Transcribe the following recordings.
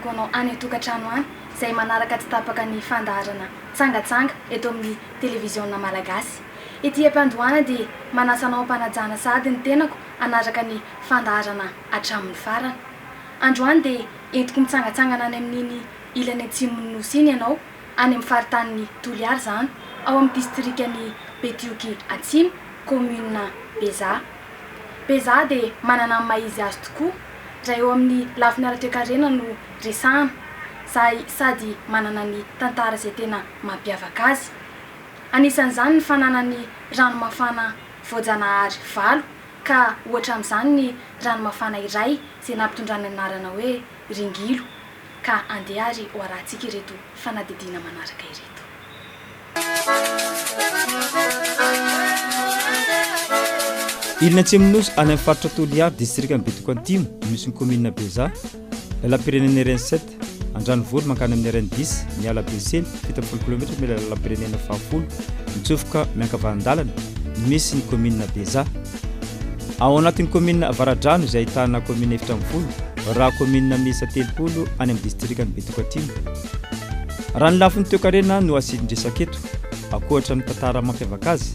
Gono any an-tokantrano any izay manaraka tsy tapaka ny fandaharana Tsangatsanga eto amin'ny Televiziona Malagasy. Ety am-piandohana dia manasa anao hampanajana sahady ny tenako hanaraka ny fandaharana hatramin'ny farany. Androany dia entiko mitsangatsangana any amin'iny ilany atsimon'ny Nosy iny ianao, any amin'ny faritanin'i Toliara izany, ao amin'ny distrikan'i Betioky Atsimo, kaominina Bezaha. be za dia manana ny maha izy azy tokoa raha eo amin'ny lafiny ara-toekarena no resahana za sady manana ny tantara izay tena mampiavaka azy anisan'izany ny fananany rano mafana voajanahary valo ka ohatra amin'izany ny rano mafana iray izay nampitondrany ny anarana hoe Ringilo ka andeha ary ho arahantsika ireto fanadihadiana manaraka ireto. Ilany atsimon'ny nosy any amin'ny faritra Toliary, distrikan'i Betoko Antimo, misy ny kaominina Beja, lalam-pirenena RN 7, Andranovory mankany amin'ny RN 10, miala Besely, fito ambin'ny folo kilaometatra mila lalam-pirenena fahafolo, mitsofoka miankavanan-dalana, no misy ny kaominina Beja. Ao anatin'ny kaominina Avaradrano izay ahitana kaominina efatra ambin'ny folo, raha kaominina miisa telopolo any amin'ny distrikan'i Betoko Antimo. Raha ny lafiny toekarena no asidin-dresaka eto, ankoatra ny tantara mampiavaka azy,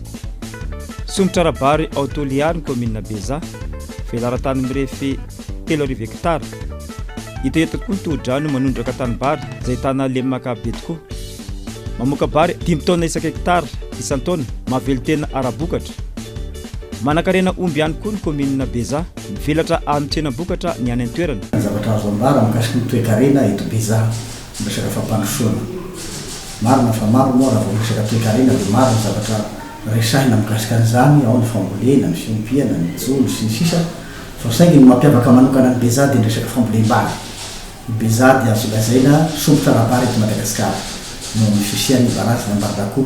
somotra ara-bary ao Toliary ny kaominina Beza, velaran-tany mirefy telo arivo hektara. Hita eto koa ny tohodrano manondraka tanimbary izay ahitana lemaka be tokoa. Mamoaka bary dimy taona isaka hektara isan-taona, mahavelon-tena ara-bokatra. Manankarena omby ihany koa ny kaominina Beza. Mivelatra any tsenam-bokatra ny any an-toerana. Zavatra azo ambara mikasika ny toekarena eto Beja ny resaka fampandrosoana. Marina fa maro moa raha vao miresaka toekarena dia maro ny zavatra resahina mikasika an'izany, ao ny fambolena, ny fiompiana, ny jono, sy ny sisa fa saingy ny mampiavaka manokana an'i Beja dia ny resaka fambolem-bary. I Beja dia azo lazaina sompitra ara-bary eto Madagasikara noho ny fisian'ny barazin'Ambarakoa.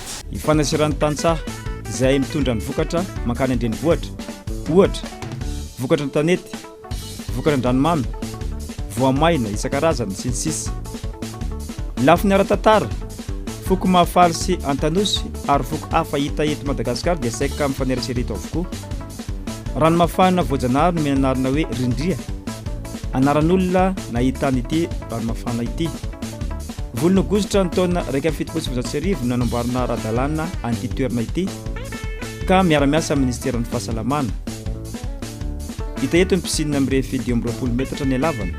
ny fanaseran'ny tantsaha izay mitondra ny vokatra mankany an-drenivohitra, ohatra, vokatra ny tanety, vokatra an-dranomamy, voamaina isan-karazany, sy ny sisa Ny lafiny ara-tantara, foko Mahafaly sy Antanosy ary foko hafa hita eto Madagasikara dia saika mifanerasera eto avokoa. Ranomafana voajanahary nomena anarana hoe Rindria, anaran'olona nahitana ity ranomafana ity. Volana Aogositra ny taona iraika amby fitopolo sy valonjato sy arivo no nanamboarana ara-dalàna an'ity toerana ity ka miara-miasa amin'ny Ministeran'ny Fahasalamana. Hita eto ny piscine mirefy dimy amby roapolo metatra ny halavany.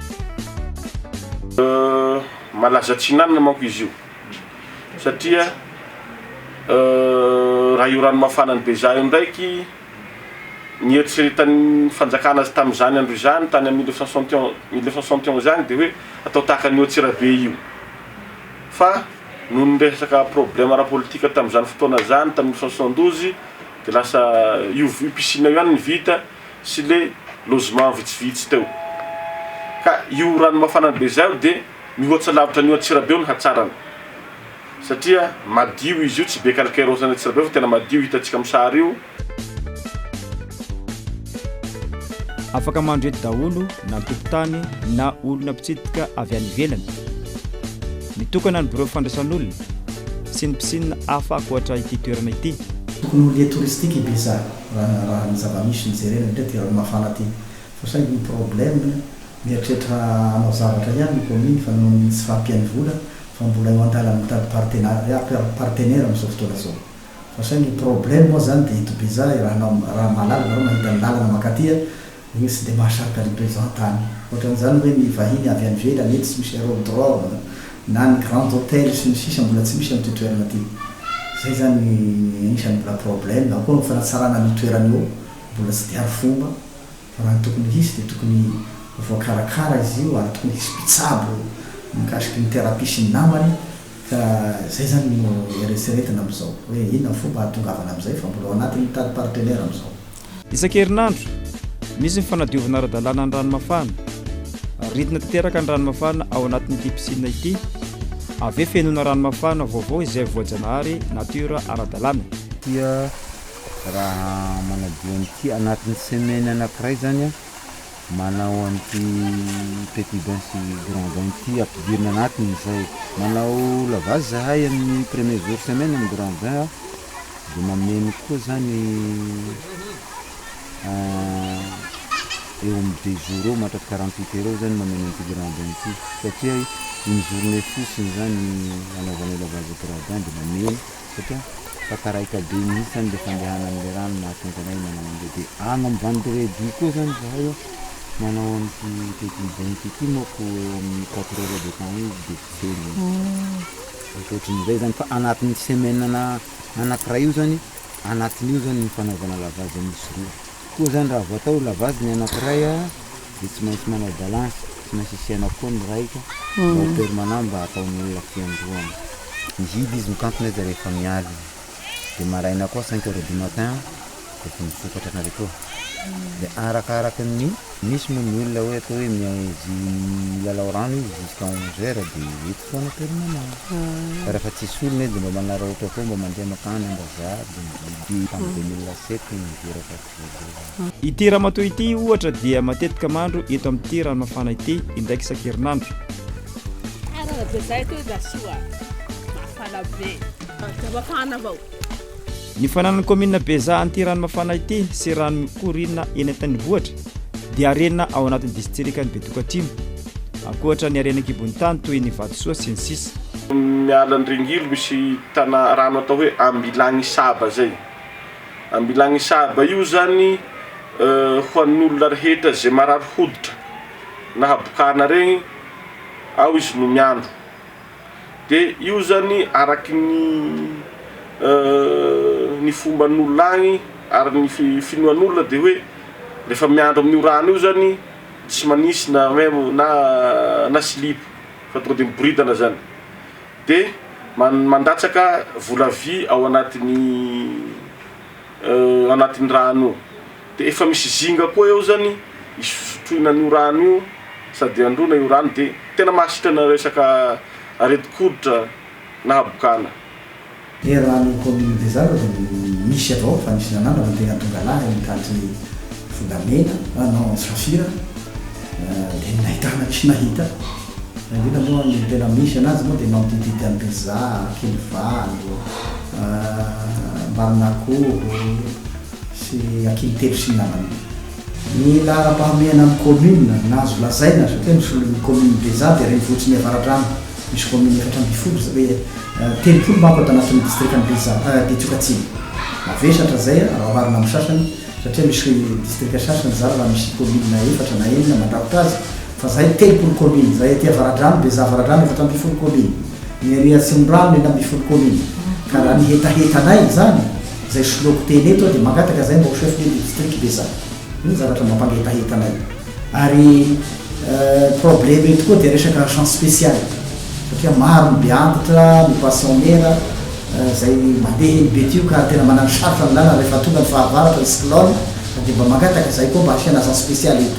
Malaza atsinanana manko izy io satria raha io rano mafanan'i Beja io ndraiky, Nieritreretan'ny fanjakana azy tamin'izany andro izany, tany amin'ny mille neuf cent soixante et onze, mille neuf cent soixante et onze ihany, dia hoe atao tahaka an'io Antsirabe io. Fa noho ny resaka problème ara-politika tamin'izany fotoana izany, tamin'ny mille neuf cent soixante douze, dia lasa io io piscine io ihany no vita sy ilay logement vitsivitsy teo. Ka io rano mafana be izao dia. Mihoatsa lavitra an'io Antsirabe io ny hatsarany satria madio izy io, tsy be kalkairaozan'ny Antsirabe fa tena madio hitantsika amin'ny sary io. Afaka mandro eto daholo na tompon-tany na olona mpitsidika avy any ivelany. Mitokana ny birao fandraisan'olona sy ny mpisnina hafa ankoatra ity toerana ity. Tokony ho lieu touristique i Beza raha ny zava-misy no jerena indrindra aty Ranomafana aty. Fa saingy ny problème, mieritreritra hanao zavatra ihany ny commune fa noho ny tsy fahampian'ny vola fa mbola eo an-dalana mitady partenariat, partenaire amin'izao fotoana izao. Fa saingy ny problème moa izany dia eto Beja raha hanao, raha mahalala nareo mahita ny lalana mankaty a, iny tsy dia mahasarika ny mpizaha tany. Ohatran'izany hoe ny vahiny avy any ivelany, eto tsy misy aerodrome, na ny grand hôtel sy ny sisa mbola tsy misy amin'ity toerana ity. Izay izany ny anisan'ny mbola problème. Ao koa ny fanatsarana an'io toerana io, mbola tsy dia arifomba. fa raha ny tokony hisy dia tokony voakarakara izy io ary tokony hisy mpitsabo mikasiky ny thérapie sy ny namany ka izay izany no eretreretina amin'izao hoe inona ny fomba hahatongavana amin'izay fa mbola ao anatin'ny mitady partenaire amin'izao. Isan-kerinandro, misy ny fanadiovana ara-dalàna ny rano mafana. Aridina tanteraka ny rano mafana ao anatin'ity piscine ity. Avy eo fenoina rano mafana vaovao izay voajanahary natiora ara-dalàna. raha manadio an'ity anatin'ny semaine anankiray zany a, manao an'ity petit bain sy grand bain ity ampidirina anatiny izay, manao lavage zahay amin'ny premier jour semaine amin'ny grand bain a, de mameno koa zany eo amin'ny deux jours eo mandraka quarante huit heures eo zany mameno an'ity grand bain ity satria une journée fotsiny zany ny anaovanay lavage grand bain de mameno. satria takaraiky be mihitsy zany le fandehanan'le rano no mahatonga anay manao an'le de any ambany reduit koa zany zahay a manao an'ity petit bonky ity manko eo amin'ny quatre heures de temps eo izy de potserina izy ankoatrin'izay zany fa anatin'ny semaine na anakiray io zany anatin'io zany ny fanaovana lavage misy roa. Koa zany raha vao atao lavage ny anakiray a de tsy maintsy manao balance, tsy maintsy asiana koa ny raika mba ho permanent mba ataon'olona fiandohana. Mihidy izy mikantona izy rehefa miala izy de maraina koa cinq heures du matin efa misokatra nareo koa de arakaraka ny misy moa ny olona hoe atao hoe milalao rano izy jusqu'à onze heures de Foana permanent. Fa rehefa tsisy olona izy dia mba manararaotra foana, mba mandeha mankany ambazaha, Dombivy, tamin'ny deux mille sept no niteraka ato voalohany. Ity ramatoa ity ohatra dia matetika mandro eto amin'ity rano mafana ity indraika isan-kerinandro. Tsara be zay atoa Jasoa a! Mafana be. Dia mafana avao. Ny fananan'ny kaominina Bezaha an'ity rano mafana ity sy rano mikoriana eny an-tanivohitra dia harena ao anatin'ny distrikan'i Betokatrimo, ankoatra ny harena an-kibon'ny tany toy ny vatosoa sy ny sisa. Miala ny ringilo misy tana rano atao hoe Ambilanisaba zay. Ambilanisaba io zany ho an'olona rehetra ze marary hoditra na habokana regny ao izy no miandro. Dia io zany araky ny ny fomban'olona agny ary ny finoan'olona dia hoe rehefa miandry amin'io rano io zany tsy manisy na memo na na silipo fa tonga dia miboridana zany dia mandatsaka vola vy ao anatin'ny anatin'ny rano io. Dia efa misy zinga koa eo zany hisotroina an'io rano io sady handroana io rano dia tena mahasitrana resaka aretin-koditra na habokana. Dia raha ny commune de Zara dia misy avao fa misy nanandrana ny tena tonga lahy any taty volamena ah non antsirasira dia nahitana tsy nahita fa indrindra moa ny tena misy anazy moa dia mampididity any Bezaha, Ankilivalo, Ambanimakovo, sy ny ankihy telo sy ny namany. Ny laharam-pahamehana ny kaominina no azo lazaina satria ny solon'ny kaominina Bezaha dia renivohitriny avaradrano misy kaominina efatra ambin'ny folo izay hoe telopolo manko ato anatin'ny distrikan'i Bezaha Betsioka Atsimo. Mavesatra izay raha oharina amin'ny sasany satria misy distrika sasany zara raha misy kaominina efatra na enina mandrakotra azy fa izahay telopolo kaominina izay aty avaradrano Bezaha avaradrano efatra ambin'ny folo kaominina, ny ery atsimondrano enina ambin'ny folo kaominina ka raha ny hetahetanay izany Izay soloako teny eto dia mangataka zay mba ho chef de district ve za? Io no zavatra mba mpangetaheta anay. Ary probleme eto koa dia resaka agent special satria maro ny beantitra, ny poissonera izay mandeha eny betio ka tena manano sarotra ny lalana rehefa tonga ny fahavaratra, ny cyclone, dia mba mangataka zay koa mba asiana agent special eto.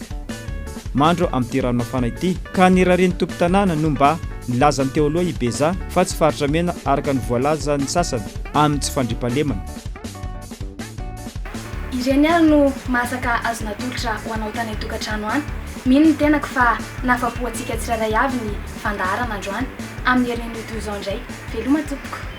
Mandro amin'ity rano mafana ity. Ka ny rarian'ny tompon-tanàna no mba nilazany teo aloha i Beza fa tsy faritra mena araka ny voalazan'ny sasany amin'ny tsy fandriampahalemana. Ireny ary no masaka azo natolotra ho anao tany an-tokantrano any. Mino ny tenako fa nahafapo antsika tsirairay avy ny fandaharana androany amin'ny herin'ny Meduza indray. Veloma tompoko.